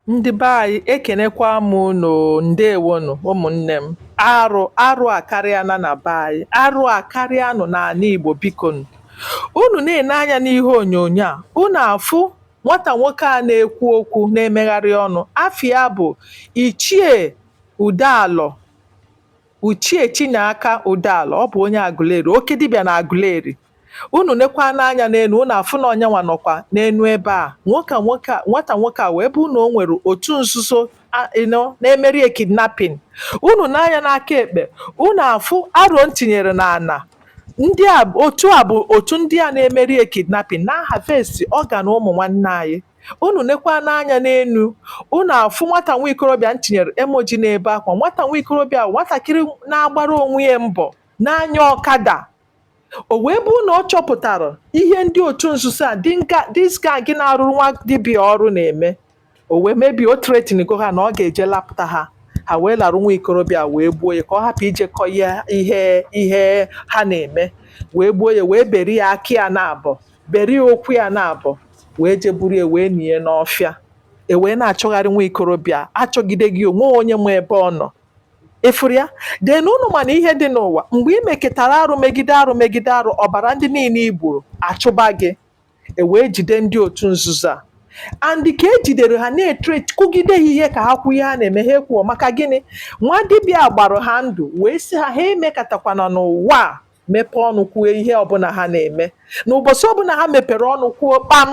Ndị be anyị ekenekwa m unu ndewonụ ụmụnne m arụ arụ akarịana na be anyị arụ akarịanụ n'ana Igbo bikonu unu na-ene anya n'ihe onyonyo a unu afụ nwata nwoke a na-ekwu okwu na-emegharị ọnụ afa ya bụ Ichie Udealọ Ichie Chinyeaka Udealọ ọ bụ onye Aguleri oke dibịa na Aguleri Unu nekwanụ anya n'enu, unu afụ na onye nwa nọkwa n'enu ebe a. Nwoke a, nwoke a, nwata nwoke a wee bụ na o nwere otu nzuzo a you know, na-emeri ya kidnapping. Unu nee anya n'aka ekpe, unu afụ aro m tinyere n'ana. Ndị a, otu a bụ otu ndị a na-emeri ya kidnapping, na-harvest organ ụmụ nwanne anyị. Unu nekwanụ anya n'enu, unu afụ nwata nwa ikorobịa m tinyere emoji na-ebe akwa. Nwata nwa ikorobịa a, nwatakịrị na-agbara onwe ya mbọ, na-anya ọkada, O wee bụ na ọ chọpụtara ihe ndị otu nzuzo a this gang na-arụrụ nwa dibịa ọrụ na-eme o wee maybe o threatenigo ha na ọ ga-eje lapụta ha ha wee larụ nwa ikorobịa wee gbuo ya ka ọ hapụ ije kọ ihe ha na-eme wee gbuo ya wee beri ya aka ya naabọ beri ya ụkwụ ya naabọ wee jeburu ya wee nie n'ọfịa e wee na-achọgharị nwa ikorobịa achọgide gị o nweghị onye ma ebe ọ nọ ị fụrụ ya then unu ma na ihe dị n'ụwa mgbe ị mekatara arụ megide arụ megide arụ ọbara ndị niine i gburu achụba gị e wee jide ndị otu nzuzo a and ka e jidere ha na-etre kụgide ha ihe ka ha kwuo ihe ha na-eme ha ekwughọ maka gịnị nwa dibịa gbara ha ndụ wee sị ha ha emekatakwana n'ụwa a mepee ọnụ kwuo ihe ọbụna ha na-eme na ụbọsị ọbụna ha mepere ọnụ kwuo kpam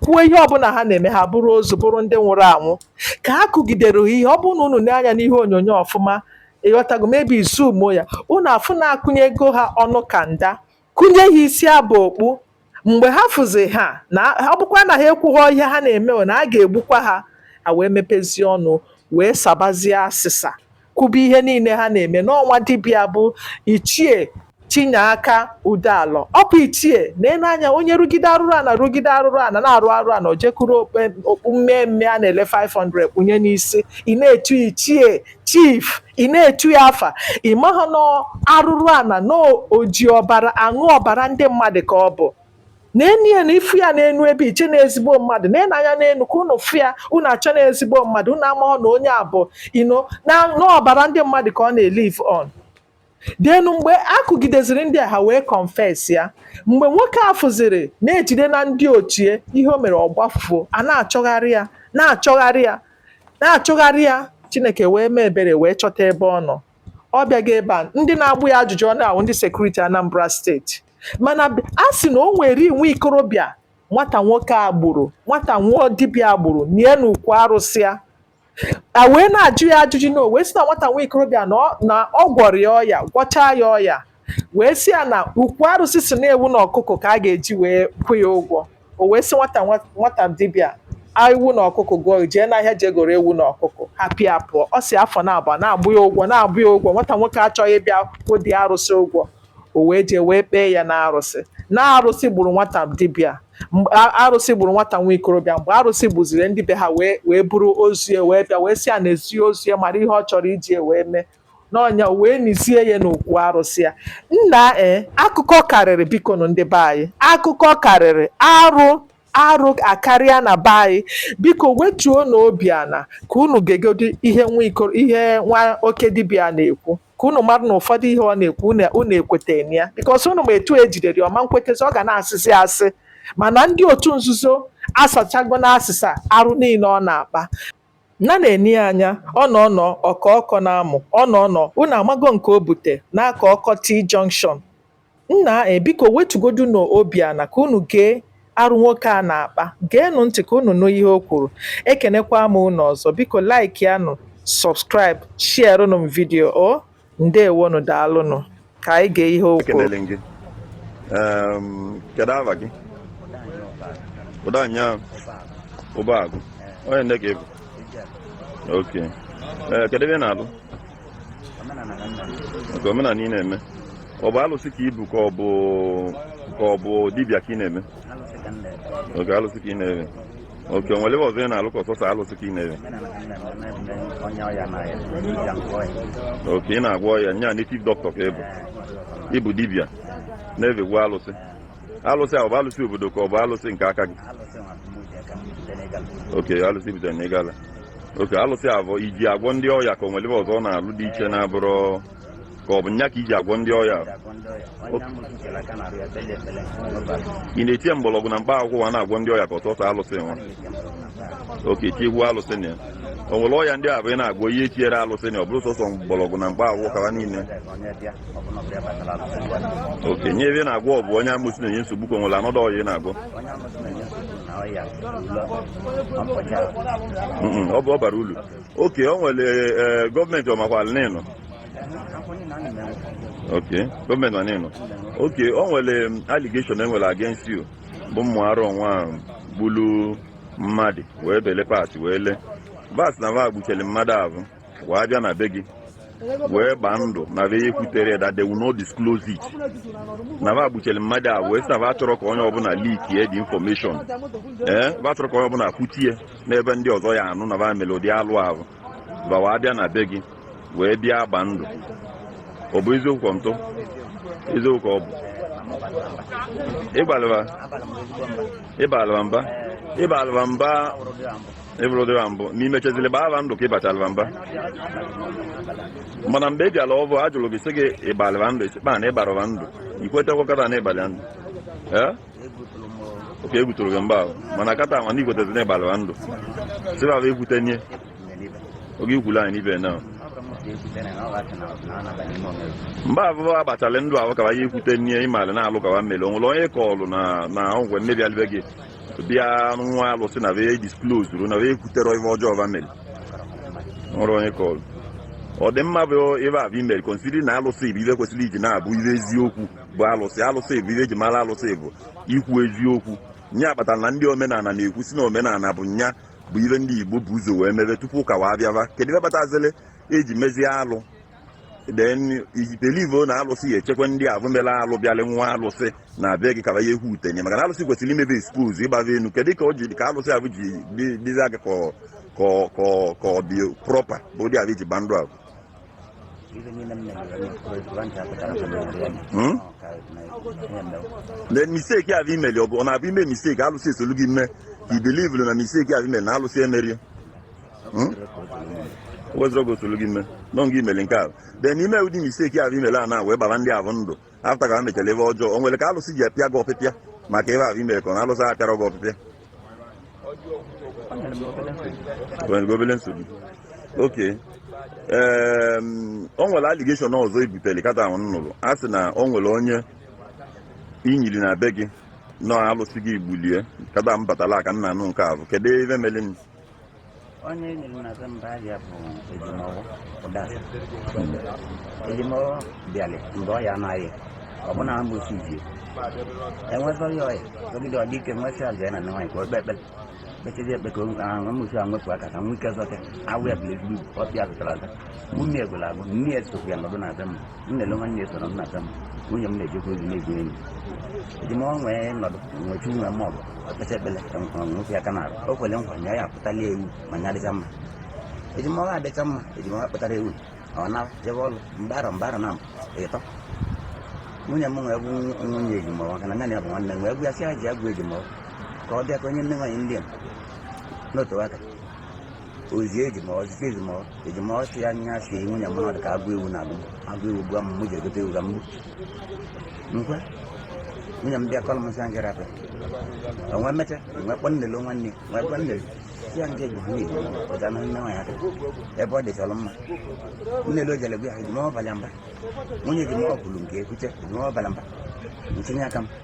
kwuo ihe ọbụna ha na-eme ha bụrụ ozu bụrụ ndị nwụrụ anwụ ka ha kụgidere ha ihe ọ bụrụ na unu nee anya n'ihe onyonyo ọfụma ịghọtago maybe ị zoomuo ya unu afụ na akụnyego ha ọnụ kanda kụnye ha isi aba okpu mgbe ha fụzi ha na ọ bụkwa na ha ekwughọ ihe ha na-eme na a ga-egbukwa ha ha wee mepezie ọnụ wee sabazie asịsa kwube ihe niile ha na-eme na ọ nwa dibịa bụ ichie Chinyeaka Udealọ ọ bụ ichie na-ene anya onye rụgide arụrụ ana rụgide arụrụ ana na-arụ arụ ana o je kuru okpu mmee mmee a na-ele 500 kpunye n'isi ị na-etu ichie chief ị na-etu ya afa ị maha na arụrụ ana na o ji ọbara aṅụ ọbara ndị mmadụ ka ọ bụ na-ene ya na ị fụ ya n'enu ebe ị chee na ezigbo mmadụ nee anya n'enu ka unu fụ ya unu eche na ezigbo mmadụ unu amaghọ na onye a bụ you know na ọbara ndị mmadụ ka ọ na-elive on then mgbe a kụgideziri ndị a ha wee confess ya mgbe nwoke a fụziri na e jidena ndị otu ya ihe o mere ọ gbafuo a na-achọgharị ya na-achọgharị ya na-achọgharị ya chineke wee mee ebere wee chọta ebe ọ nọ ọ bịaghị ebe a ndị na-agba ya ajụjụ ọnụ ahụ ndị security Anambra State mana a sị na o nwere nwa ikorobịa nwata nwoke a gburu nwata nwa dibịa a gburu nie n'ukwu arụsị ya a wee na-ajụ ya ajụjụ na o wee sị na nwata nwa ikorobịa na ọ- na ọ gwọrọ ya ọya gwọchaa ya ọya wee sị ya na ukwu arụsị sị na ewu na ọkụkọ ka a ga-eji wee kwụ ya ụgwọ o wee sị nwata nwa- nwata dibịa ewu na ọkụkọ gụọ jee n'ahịa jee goro ewu na ọkụkọ hapụ ya pụọ ọ si afọ na-agba na-agbụ ya ụgwọ na-agbụ ya ụgwọ nwata nwoke achọghị ịbịa kwụ dị arụsị ụgwọ o wee jee wee kpee ya n'arụsị na arụsị gburu nwata dibịa mgbe a- arụsị gburu nwata nwa ikorobịa mgbe arụsị gbuziri ndị be ha wee wee buru ozu ya wee bịa wee sị ya nezie ozu ya mara ihe ọ chọrọ iji ya wee mee na ọ nya o wee nizie ya n'okwu arụsị ya nna e akụkọ karịrị bikonụ ndị be anyị akụkọ karịrị arụ arụ akarịa na be anyị biko wetuonụ obi ana ka unu gegodi ihe nwa ikoro ihe nwa oke dibịa na-ekwu ka unu mara na ụfọdụ ihe ọ na-ekwu unu ekwetana ya bikọs unu ma etu e jidere ọ ma nkwetezi ọ ga na-asịsị asị mana ndị otu nzuzo asachago na asịsa arụ niile ọ na-akpa na na-ene ya anya ọ nọ ọnọ ọkọ ọkọ na-amụ ọ nọ ọnọ unu amago nke o bute n'aka ọkọ T junction Nna e, biko wetugodunụ obi ana ka unu gee arụ nwoke a na-akpa. Geenụ ntị ka unu nụ ihe o kwuru. Ekenekwa m unu ọzọ. Biko like yanụ, subscribe, sharerụnụ m vidio o. Ndewonụ, daalụnụ. Ka anyị gee ihe o kwuru. Ekenele m gị. Em, Kedu afa gị? Ụdanya Ụbọagụ. Onye nne ka ị bụ? Oke. Ee, kedu ebe ị na-alụ? nke omenala ị na-eme ọ bụ alụsị ka i bu ka ọ bụ ka ọ bụ dibịa ka ị na-eme oke alụsị ka ị na-eve oke o nwere ebe ọzọ ị na-alụ ka ọ sọsọ alụsị ka ị na-eve oke ị na-agwọ ọya nya native doctor ka ị bụ ị bụ dibịa na-evekwu alụsị alụsị ahụ ọ bụ alụsị obodo ka ọ bụ alụsị nke aka gị oke alụsị butere na Igala oke alụsị a bụ i ji agwọ ndị ọya ka o nwere ihe ọzọ ọ na-alụ dị iche na-abụrọ ka ọ bụ nya ka i ji agwọ ndị ọya ị na-etinye mgbọrọgwụ na mkpa akwụkwọ wa na-agwọ ndị ọya ka ọ sọsọ alụsị nwa oke tikwu alụsị na ya o nwere ọya ndị a bụ ị na-agwọ i tinyerọ alụsị na ọ bụrụ sọsọ mgbọrọgwụ na mkpa akwụkwọ kawa niile oke nya ihe ị na-agwọ ọ bụ onye amosu na-enye nsogbu ka o nwere anọdụ ọya ị na-agwọ ọ bụ ọbara ulu oke o nwere e, gọọmenti ọ makwalụ na ị nọ oke gọọmenti ma na ị nọ oke o nwere allegation e nwere against you bụ ụmụ aro nwa gbulu mmadụ wee bele parts wee lee va sị na va gbuchiri mmadụ ahụ wee bịa na be gị wee gbaa ndụ na va ya ekwutere that they will not disclose it na va gbuchere mmadụ ahụ wee sị na va achọrọ ka onye ọbụla leak ye the information ee eh, va achọrọ ka onye ọbụla kwutie n'ebe ndị ọzọ ya anụ na va mere ụdị alụ ahụ va wee bịa na be gị wee bịa gbaa ndụ ọ bụ eziokwu ka ntụ eziokwu ka ọ bụ ị gbalị va mba ị gbalị va mba ị bụrụdị va mbụ na i mechezili gbaa va ndụ ka ị gbachalị va mba mana mgbe ị bịara ọvụ a jụrụ gị sị gị ị gbalị va ndụ ị sị kpaa na ị gbarọ va ndụ i kwetekwa kata na ị gbalị ndụ ee oke egwu tụrụ gị mgbe ahụ mana kata nwa na i kwetezi na ị gbalị va ndụ sị va va ekwute nye oge i kwulu anyị n'ibe na mgbe ahụ va gbachalị ndụ ahụ ka va ya ekwute nye ị malị na alụ ka va meli o nwere onye ị kọlụ na na ọgwụ mme bịalị be gị bịa ṅụa alụsị na vee disclose ru na vee ekwutere ife ọjọọ va mere o nwere onye ị kọrọ ọ dị mma bụ ife ahụ i mere considering na alụsị bụ ife kwesịrị iji na-abụ ife eziokwu bụ alụsị alụsị bụ ife eji mara alụsị bụ ikwu eziokwu nya kpatara na ndị omenala na-ekwusi na omenala bụ nya bụ ife ndị Igbo bu ụzọ wee mebe tupu ụka wee bịaba kedu ife kpatazịrị e ji mezie alụ then i believe na alụsị ya echekwa ndị ahụ mere alụ bịalị ṅụa alụsị na be gị ka va ya ekwute nye maka na alụsị kwesịrị ime va expose ịgba va enu kedu ka ọ ji ka alụsị ahụ ji dị- dịzi aka ka ọ- ka ọ- ka ọ- ka ọ dị proper bụ ụdị ahụ i ji gba ndụ ahụ Ife niile m na-eme na ọkụ ntị apụtara na mmadụ ya. Hmm? Ọ ka na ihe mere. then mistake ahụ i meli ọ bụ ọ na-abụ i mee mistake alụsị esolu gị mee ka i believe na mistake ahụ i meli na alụsị emeri Hmm? wezụrụ gị osolu gị mee na ọ gị meli nke ahụ then i mee ụdị mistake ahụ i meli a na wee gbara ndị ahụ ndụ after ka ha mechara ife ọjọọ o nwere ka alụsị ji apịa gị ọpịpịa maka ife ahụ i mere ka na alụsị apịarọ gị ọpịpịa nwere obele nsogbu oke o nwere allegation ọzọ ebutere kata a nụrụ a sị na o nwere onye i nyiri na be gị na ọ alụsị gị gbulie kata m batara ka m na-anụ nke ahụ kedu ife mere onye e nyiri na be m afa ya bụ Ejimọfọ Ụdasa Ejimọfọ bịalị mgbe ọ ya anaghị ọ bụ na amụsi ji enwezọ ya ọya ogide ọ dị ike m wee sị ya jee na nwaanyị ka o kpe ekpere kpechezi ekpe ka amụsi a wepụ aka ka m nwe ike zọta ahụ ya bụla ezigbo ọpịa zụtara aza nwunye egwela agwụ nne ya sokwu ya nọdụ na be m m na-ele nwanne ya soro m na be m nwunye m na-ejekwa ozi na-egwu enyi Ejimọfọ wee nọdụ nwechi nwe m ọgụ ọ kpecha ekpele ka m hụrụ m nwoke ya ka na-arụ o kwere nkwa na ya akpụtala ewu ma ya dịcha mma Ejimọfọ adịcha mma Ejimọfọ kpụtara ewu ọ na jebe ọrụ mgbe arọ mgbe arọ na-abụ ịtọ nwunye m wee gwa nwunye Ejimọfọ maka na nne na ya bụ nwanne m wee gwa ya sị ya jee gwa Ejimọfọ ka ọ bịa ka o nye nne nwaanyị ndị a n'otu aka ozi ejima ejima ejima ọsị ya nya si nwunye m nọdụ ka agụ ewu na agụ agụ ewu gwa m mụ ji egote ewu ka m gbuo nkwe nwunye m bịa kọlụ m sị ya ngara apịa o wee mecha o wee kpọ nnele nwanne o wee kpọ nnele si ya nke bụ ha na-eji ọga na nne nwaanyị aka ebe ọ dịchalụ mma nnele o jele gwa ya ejima ọ bala mba nwunye ejima ọ kwuru nke ekwuche ejima ọ bala mba ntinye aka m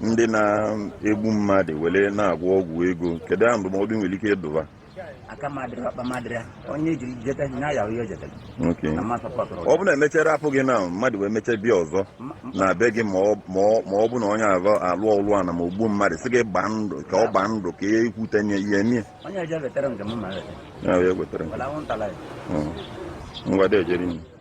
ndị na-egbu mmadụ were na-agwọ ọgwụ ego kedu ya ndụmọdụ i nwere ike ịdụ va ọ bụ na e mechara apụ gị na mmadụ wee mecha bịa ọzọ na be gị ma ọ bụ na onye alụ alụ ọlụ ana ma o gbuo mmadụ sị gị gbaa ndụ ka ọ gbaa ndụ ka ihe ikwute nye ihe mie ngwa dị ejere